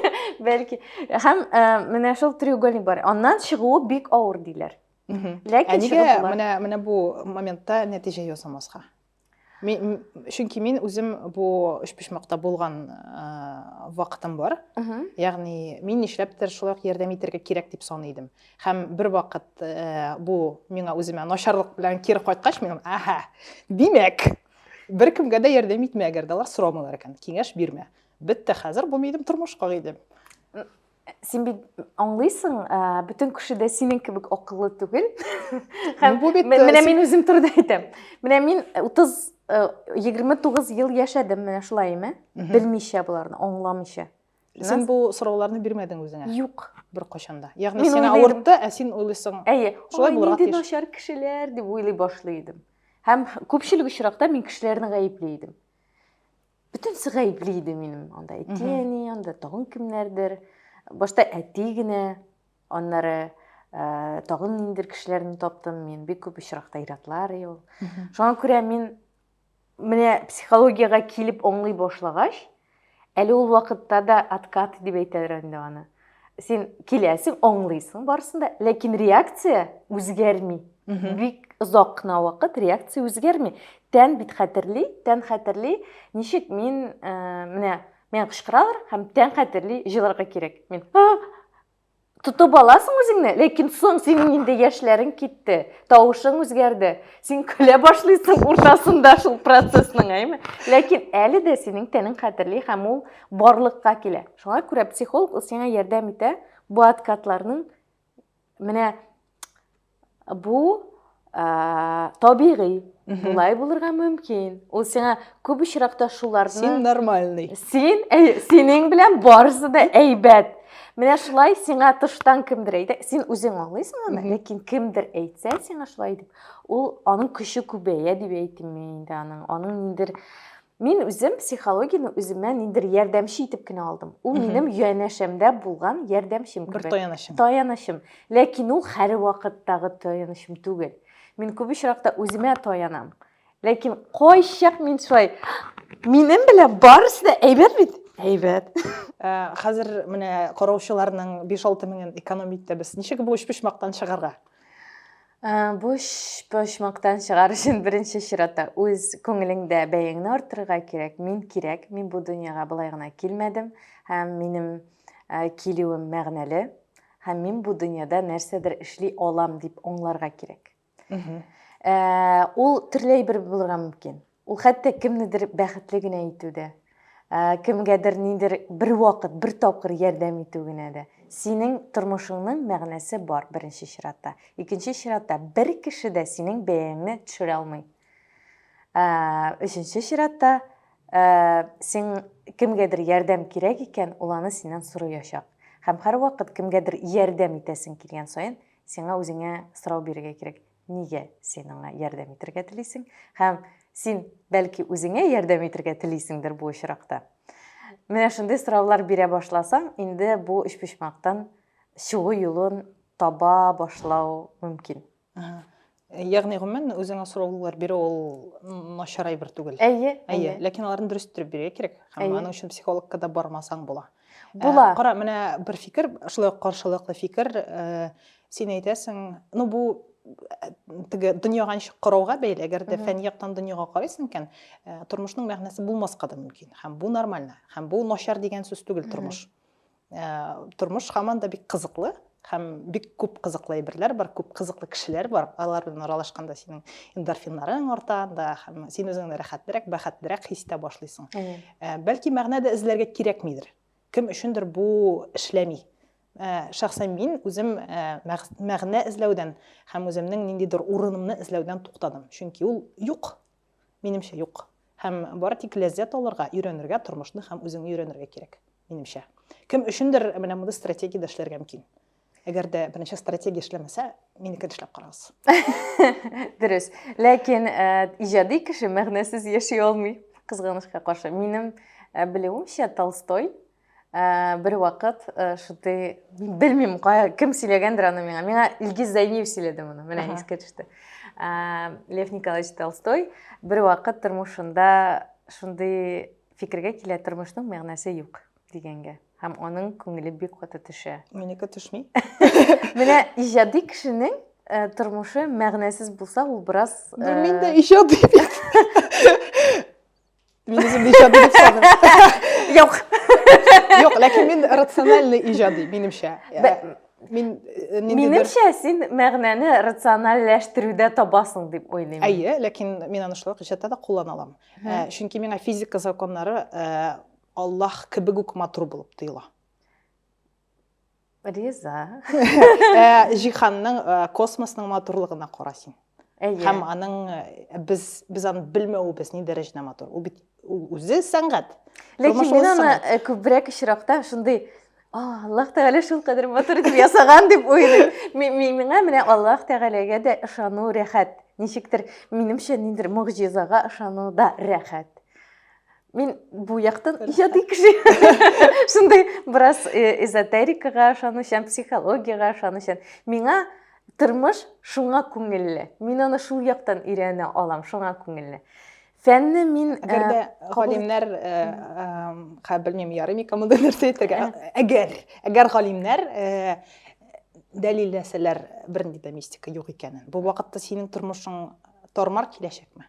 бәлки һәм э, менә шул треугольник бар аннан чыгуы бик авыр диләр ләкин ә нигә менә менә бу моментта нәтиҗә ясамаска Мин, чөнки мин үзем бу өчпочмакта булган ә, вакытым бар. Uh -huh. Ягъни мин нишләптер шулай ук ярдәм итәргә кирәк дип саный идем. Һәм бер вакыт ә, бу миңа үземә начарлык белән кире кайткач, мин, аһа, димәк, бер кемгә дә ярдәм итмә, әгәр дә алар сорамыйлар икән, киңәш бирмә. Бетте хәзер, булмый идем тормыш кагыйдем. син бит аңлыйсың, бөтен кеше дә синең кебек акыллы түгел. Һәм бу бит менә мин үзем турында әйтәм. Менә мин 30 29 ел яшәдем менә шулай име? Белмичә буларны, аңламыйча. Син бу сорауларны бирмәдең үзеңә? Юк. Бер кашанда. Ягъни сиңа авыртты, ә син уйлыйсың. Әйе. Шулай булырга тиеш. Нинди начар кешеләр дип уйлый башлый идем. Һәм күпчелек очракта мин кешеләрне гаепли идем. бөтенесе гаепле иде минем анда әти әни анда тагын кемнәрдер башта әти генә аннары ә, тагын ниндидер кешеләрне таптым мен бик көп очракта иратлар ел шуңа күрә мин менә психологияга килеп аңлый башлагач әле ул вакытта да откат дип әйтәләр инде аны сен киләсең аңлыйсың барысын да ләкин реакция үзгәрми бик озак кына вакыт реакция үзгәрми тән бит хәтерли тән хәтерли ничек мин ә, менә миңа кычкыралар һәм тән хәтерли җылырга кирәк мин тотып аласың үзеңне ләкин соң синең инде яшьләрең китте тавышың үзгәрде син көлә башлыйсың уртасында шул процессның әйме ләкин әле дә синең тәнең хәтерли һәм ул барлыкка килә. Шуңа күрә психолог ул сиңа ярдәм итә бу откатларның менә бу ә, табигый Болай булырга мөмкин. Ул сиңа күп очракта шуларны Син нормальный. Син әй, синең белән барысы да әйбәт. Менә шулай сиңа тыштан кемдер әйтә, син үзең аңлыйсың аны, ләкин кемдер әйтсә сиңа шулай дип, ул аның көче күбәя дип әйтим мин инде аның, аның ниндер Мин үзем психологияне үземә ниндер ярдәмче итеп кенә алдым. Ул минем янәшәмдә булган ярдәмчем кебек. Бер таянычым. Таянычым. Ләкин ул һәр вакыттагы таянычым түгел. Мин күп очракта үземә таянам. Ләкин кайчак мин шулай минем белән барысы да әйбәт бит. Әйбәт. Э, хәзер менә караучыларның 5-6 меңен экономить итәбез. Ничек бу өчпочмактан чыгарга? Ә, Буш почмактан чыгар өчен беренче чиратта үз күңелеңдә бәяңне арттырырга кирәк. Мин кирәк, мин бу дөньяга болай гына килмәдем һәм минем ә, килүем мәгънәле һәм мин бу дөньяда нәрсәдер эшли алам дип аңларга кирәк. Ә, Ул төрле әйбер булырга мөмкин. Ул хәтта кемнедер бәхетле генә итү дә, кемгәдер нидер бер вакыт, бер тапкыр ярдәм итү генә дә. Синең тормышыңның мәгънәсе бар, беренче чиратта. Икенче чиратта, бер кеше дә синең бәяңне төшерә алмый. Өченче чиратта, син кемгәдер ярдәм кирәк икән, ул аны синнән сорыячак. Һәм һәрвакыт кемгәдер ярдәм итәсең килгән саен, сиңа үзеңә сорау бирергә кирәк. Нигә син аңа ярдәм итергә телисең? Һәм син, бәлки, үзеңә ярдәм итергә телисеңдер бу очракта. Менә шундый сораулар бирә башласаң, инде бу өчпочмактан чыгу юлын таба башлау мөмкин. Ага. Ягъни, гомумән, үзеңә сораулар бирү ул начар әйбер түгел. Әйе, әйе. Ләкин аларны дөрес иттереп бирергә кирәк. Һәм аның өчен психологка да бармасаң була. Була. Ә, кара, менә бер фикер, шулай каршылыклы фикер, ә, син әйтәсең, ну бу теге дөньяга ничек карауга бәйле әгәр дә фәнни яктан дөньяга карыйсың икән э, тормышның мәгънәсе булмаска да мөмкин һәм бу нормально һәм бу начар дигән сүз түгел тормыш э, тормыш һаман да бик кызыклы һәм бик күп кызыклы әйберләр бар, күп кызыклы кешеләр бар. Алар белән аралашканда синең эндорфиннарың арта, да һәм син үзеңне рәхәтлерәк, бәхетлерәк хис итә башлыйсың. Ә, бәлки мәгънә дә эзләргә кирәкмидер. Кем өчендер бу эшләми. Ә, шәхсән мин үзем ә, мәгънә эзләүдән һәм үземнең ниндидер урынымны эзләүдән туктадым. Чөнки ул юк. Минемчә юк. Һәм бары тик ләззәт алырга, өйрәнергә тормышны һәм үзеңне өйрәнергә кирәк. Минемчә. Кем өчендер менә мондый стратегиядә эшләргә мөмкин. Әгәр дә берничә стратегия эшләмәсә, минекен эшләп карагыз. Дөрес. Ләкин э, иҗади кеше мәгънәсез яши алмый, кызганычка каршы. Минем э, белүемчә Толстой э, бер вакыт шундый белмим, кем сөйләгәндер аны миңа. Миңа Илгиз Зәйниев сөйләде моны. Менә искә төште. Лев Николаевич Толстой бер вакыт тормышында шундый Фикергә килә, тормышның мәгънәсе юк дигәнгә. Һәм аның күңеле бик каты төшә. Минеке төшми. Менә иҗади кешенең э, тормышы мәгънәсез булса, ул бераз э, Бу мин дә иҗади бит. Мин үзем иҗади дип саныйм. Юк. Юк, ләкин мин рациональный иҗади, минемчә. Бә- Мин э, ниндидер- Минемчә, син мәгънәне рациональләштерүдә табасың дип уйлыйм. Әйе, ләкин мин аны шулай ук иҗатта да куллана алам. Ә, чөнки миңа физика законнары ә, Аллаһ кебек үк матур булып тоела. Риза. Ә, җиһанның, ә, космосның матурлыгына кара син. Әйе. Һәм аның ә, без без аны белмәвебез ни дәрәҗәдә матур. Ул бит үзе сәнгать. Ләкин мин аны күбрәк очракта шундый Аллаһ Тәгалә шул кадәр матур итеп ясаган дип уйлыйм. Миңа менә Аллаһ Тәгаләгә дә ышану рәхәт. Ничектер, минемчә, ниндер мөгъҗизага ышану да рәхәт. Мин бу яктан иҗади кеше. Шундый бераз э, эзотерикага ышанучан, психологиягә ышанучан. Миңа тормыш шуңа күңелле. Мин аны шул яктан өйрәнә алам, шуңа күңелле. Фәнне мин әгәр э, дә галимнәр э, э, белмим ярый микән монда нәрсә әйтергә әгәр әгәр галимнәр дәлилләсәләр бернинди дә мистика юк икәнен бу вакытта синең тормышың тормар киләчәкме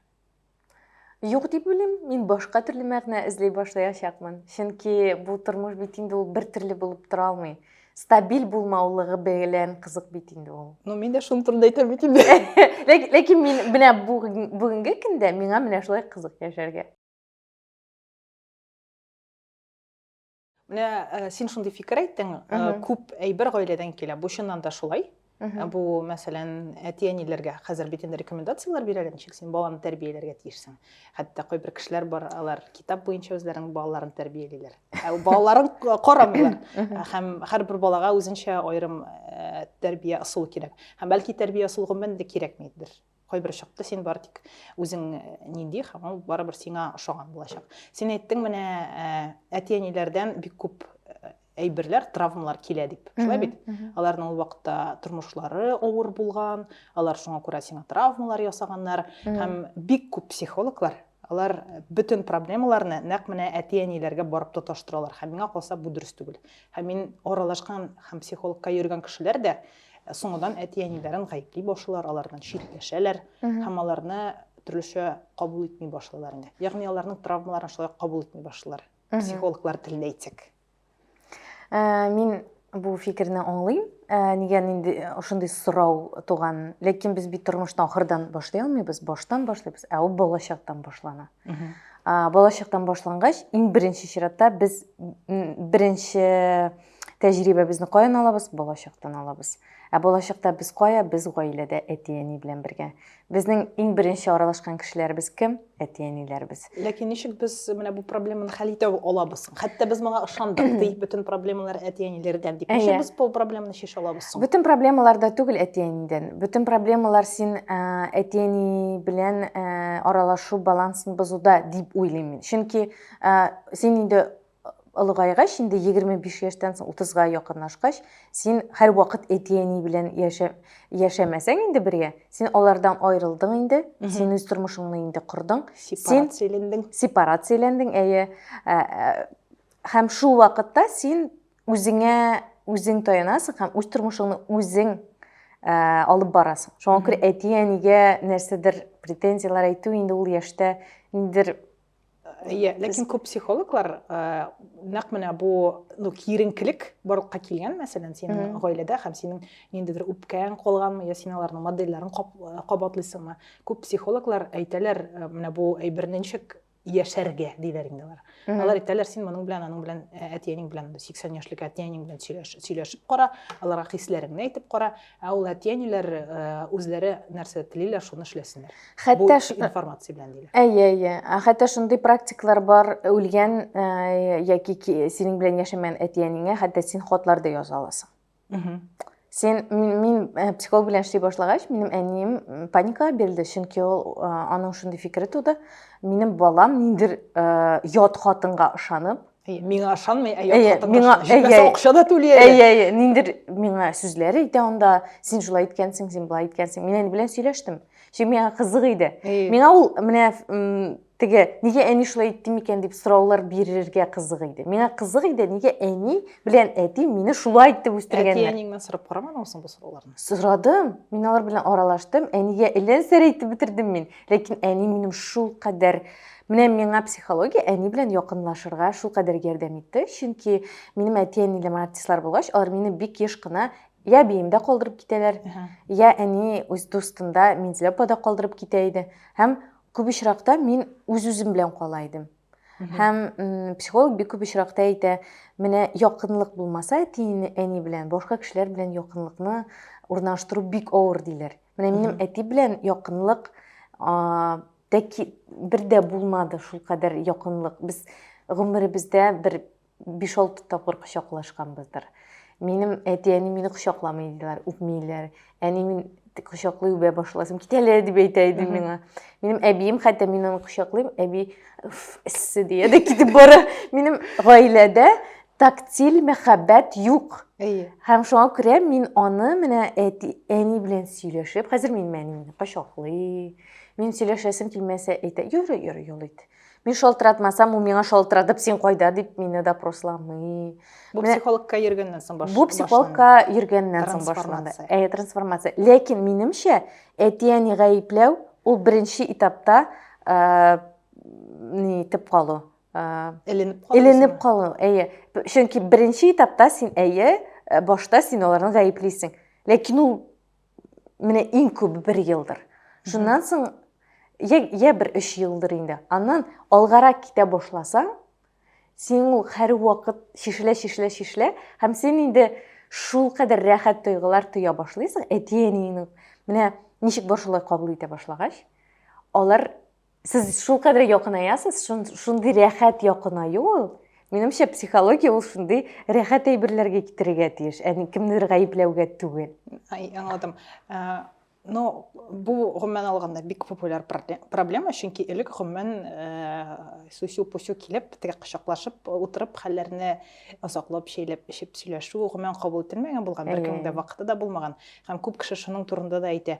юк дип уйлыйм мин башка төрле мәгънә эзли башлаячакмын чөнки бу тормыш бит инде ул бер төрле булып тора алмый стабиль булмаулыгы белән кызык бит инде ул ну мин дә шуның турында әйтәм бит инде ләкин мин менә бүгенге көндә миңа менә шулай кызык яшәргә менә э, син шундый фикер әйттең э, күп әйбер гаиләдән килә бу чыннан да шулай Ә бу, мәсәлән, әти-әниләргә хәзер бит инде рекомендацияләр бирәләр, ничек син баланы тәрбияләргә тиешсең. Хәтта кайбер кешеләр бар, алар китап буенча үзләренең балаларын тәрбиялиләр. Ә балаларын карамыйлар. Һәм һәрбер балага үзенчә аерым э, тәрбия ысулы кирәк. Һәм бәлки тәрбия ысулы гомумән дә кирәкмидер. кайбер чакта син бары тик үзең э, нинди һәм ул барыбер сиңа ошаган булачак син әйттең менә э, әти әниләрдән бик күп э, әйберләр травмалар килә дип шулай бит аларның ул вакытта тормышлары авыр булган алар шуңа күрә сиңа травмалар ясаганнар һәм бик күп психологлар Алар бөтен проблемаларны нәкъ менә әти-әниләргә барып тоташтыралар. Һәм миңа калса, бу дөрес түгел. Һәм мин аралашкан һәм психологка йөргән кешеләр дә соңыннан әти-әниләрен гаепли башлыйлар, алардан читләшәләр һәм аларны төрлечә кабул итми башлыйлар инде. Ягъни аларның травмаларын шулай кабул итми башлыйлар. Психологлар телендә әйтсәк. Ә, мин бу фикерне аңлыйм. Ә, нигә нинди ошондый сорау туган? Ләкин без бит тормышны ахырдан башлый алмыйбыз, баштан башлыйбыз, ә ул балачактан башлана. Ә, балачактан башлангач, иң беренче чиратта без беренче тәҗрибәбезне каян алабыз? Балачактан алабыз. Ә балачакта без кая? Без гаиләдә әти-әни белән бергә. Безнең иң беренче аралашкан кешеләребез кем? Әти-әниләребез. Ләкин ничек без менә бу проблеманы хәл итә алабыз? Хәтта без моңа ышандык, ди, бөтен проблемалар әти-әниләрдән дип. Ничек без бу проблеманы чишә алабыз соң? Бөтен проблемалар да түгел әти-әнидән. Бөтен проблемалар син э, әти-әни белән э, аралашу балансын бозуда дип уйлыйм мин. Чөнки э, син инде олыгайгач, инде 25 яшьтән соң 30-га якынлашкач, син һәрвакыт әти-әни белән яшә, яшәмәсәң инде бергә, син алардан аерылдың инде, син үз тормышыңны инде кордың. Сепарацияләндең. Сепарацияләндең, әйе. Ә, ә, һәм шул вакытта син үзеңә үзең таянасың һәм үз тормышыңны үзең ә, алып барасың. Шуңа күрә әти-әнигә нәрсәдер претензияләр әйтү инде ул яшьтә ниндидер Иә, ләкин көп психологлар ә, нәкъ менә бу ну киеренкелек барлыкка килгән, мәсәлән, синең гаиләдә һәм синең ниндидер үпкәң калганмы, я син аларның модельләрен кабатлыйсыңмы? Күп психологлар әйтәләр, менә бу әйберне ничек яшәргә диләр инде алар. Алар әйтәләр, син моның белән, аның белән, әтиәнең белән, 80 яшьлек әтиәнең белән сөйләшеп кара, аларга хисләреңне әйтеп кара, Ә ул әти-әниләр үзләре нәрсә телиләр, шуны эшләсеннәр. Хәтта информация белән диләр. Әйе, әйе. Хәтта шундый практикалар бар, үлгән яки синең белән яшәмәгән әти-әнеңә хәтта син хатлар да яза аласың. Син мин, мин психолог белән эшли башлагач, минем әнием паникага бирелде, чөнки ул аның шундый фикере туды. Минем балам ниндер ят хатынга ышанып, миңа ышанмый ә ят миңа акча да түли әле ниндер миңа сүзләр әйтә анда син шулай иткәнсең син былай иткәнсең мин әни белән сөйләштем чөнки миңа кызык иде миңа ул менә теге нигә әни шулай итте микән дип сораулар бирергә кызык иде миңа кызык иде нигә әни белән әти мине шулай итеп үстергәннәр әти әниңнән сорап карамадыңмы соң бу сорауларны сорадым мин алар белән аралаштым әнигә әллә нәрсәләр әйтеп бетердем мин ләкин әни минем шулкадәр Менә миңа психология әни белән якынлашырга шулкадәр ярдәм итте, чөнки минем әти-әнилем артистлар булгач, алар мине бик еш кына я биемдә калдырып китәләр, я әни үз дустында Минзилә апада калдырып китә иде. Һәм күп очракта мин үз-үзем белән кала идем. Һәм психолог бик күп очракта әйтә, менә якынлык булмаса әти әни белән, башка кешеләр белән якынлыкны урнаштыру бик авыр диләр. Менә минем әти белән якынлык Тәки бер дә булмады шул кадәр якынлык. Без гомеребездә бер 5-6 тапкыр кочаклашканбыздыр. Минем әти-әни мине кочакламый диләр, үпмиләр. Әни мин кочаклый үбә башласам, кит әле дип әйтә иде миңа. Минем әбием хәтта мин аны кочаклыйм, әби эссе дия дә китеп бара. Минем гаиләдә тактиль мәхәббәт юк. Әйе. Һәм шуңа күрә мин аны менә әти, әни белән сөйләшеп, хәзер мин әнине кочаклый, Мин сөйләшәсем килмәсә әйтә, йөрү, йөрү, юл ит. Мин шалтыратмасам, ул миңа шалтыратып, син кайда дип мине допросламый. Бу психологка йөргәннән соң башланды. Бу психологка йөргәннән соң башланды. Әйе, трансформация. Ләкин минемчә, әти-әни гаепләү ул беренче этапта э, ни итеп калу. Э, эленеп калу. Эленеп калу, әйе. Чөнки беренче этапта син әйе, э, башта син аларны гаеплисең. Ләкин ул менә иң күбе бер елдыр шуннан соң я, я бер өч елдыр инде аннан алгарак китә башласаң син ул һәрвакыт шешелә шешелә шешелә һәм син инде шул кадәр рәхәт тойгылар тоя башлыйсың әти әниеңнең менә ничек бар шулай кабул итә башлагач алар Сез шул кадәр якынаясыз, шундый рәхәт якынаю ул. Минемчә, психология ул шундый рәхәт әйберләргә китерергә тиеш, ә кемнедер гаепләүгә түгел. Ай, аңладым. Э, но бу гомумән алганда бик популяр проблема, чөнки элек гомумән э, сүсю-пүсю килеп, теге кочаклашып утырып, хәлләрне озаклап шәйләп эчеп сөйләшү гомумән кабул ителмәгән булган, беркемнең дә вакыты да булмаган. Һәм күп кеше шуның турында да әйтә.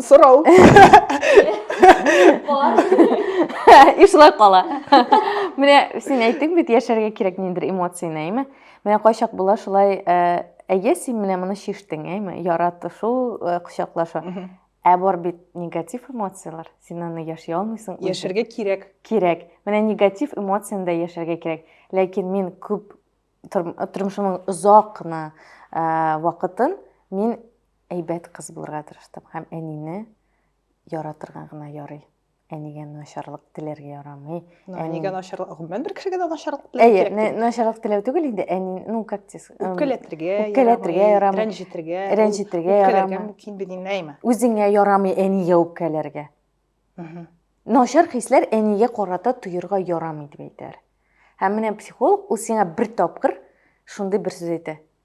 сорау и шулай кала менә син әйттең бит яшәргә кирәк ниндидер эмоцияне әйме менә кайчак була шулай әйе син менә моны чиштең әйме яратышу кочаклашу ә бар бит негатив эмоциялар син аны яши алмыйсың яшәргә кирәк кирәк менә негатив эмоцияны да яшәргә кирәк ләкин мин күп тормышымның озак кына вакытын мин Әйбәт кыз булырга тырыштым һәм әнине яратырга гына ярый. Әнигә начарлык теләргә ярамый. Ну, әнигә начарлык, гомумән бер кешегә дә начарлык теләү кирәк. Әйе, начарлык теләү түгел инде, әни, ну как дис? Үпкәләтергә, үпкәләтергә ярамый. Рәнҗетергә, рәнҗетергә ярамый. Үпкәләргә мөмкин бит инде, әйме? Үзеңә ярамый әнигә үпкәләргә. Начар хисләр әнигә карата тоерга ярамый дип әйтәр. Һәм менә психолог ул сиңа бер тапкыр шундый бер сүз әйтә.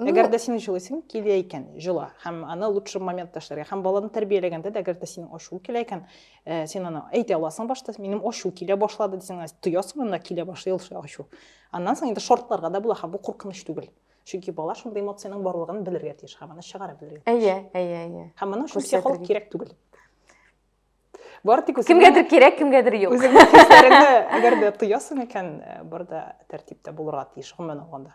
Ну, әгәр дә син җылыйсың килә икән җыла һәм аны лучший моментта эшләргә һәм баланы тәрбияләгәндә дә әгәр дә синең ачуың килә икән ә, син аны әйтә аласың башта минем ачу килә башлады дисең тоясың анда килә башлый ул ачу аннан соң инде шартларга да була һәм бу куркыныч түгел чөнки бала шундый эмоциянең барлыгын белергә тиеш һәм аны чыгара белергә әйе әйе әйе һәм моның өчен психолог кирәк түгел бары тик кемгәдер кирәк кемгәдер юк үзеңнең хисләреңне әгәр дә тоясың икән э, барда тәртиптә булырга тиеш гомумән алганда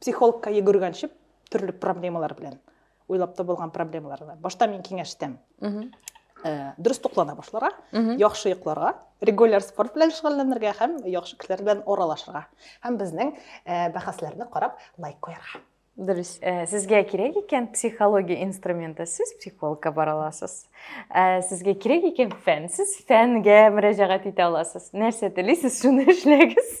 психологка йөгергәнче төрле проблемалар белән уйлап табылган проблемалар башта мин киңәш итәм э, дөрес туклана башларга яхшы йокларга регуляр спорт белән шөгыльләнергә һәм яхшы кешеләр белән аралашырга һәм безнең э, бәхәсләрне карап лайк куярга дөрес э, сезгә кирәк икән психология инструменты сез психологка бара аласыз э, сезгә кирәк икән фән сез фәнгә мөрәҗәгать итә аласыз нәрсә телисез шуны эшләгез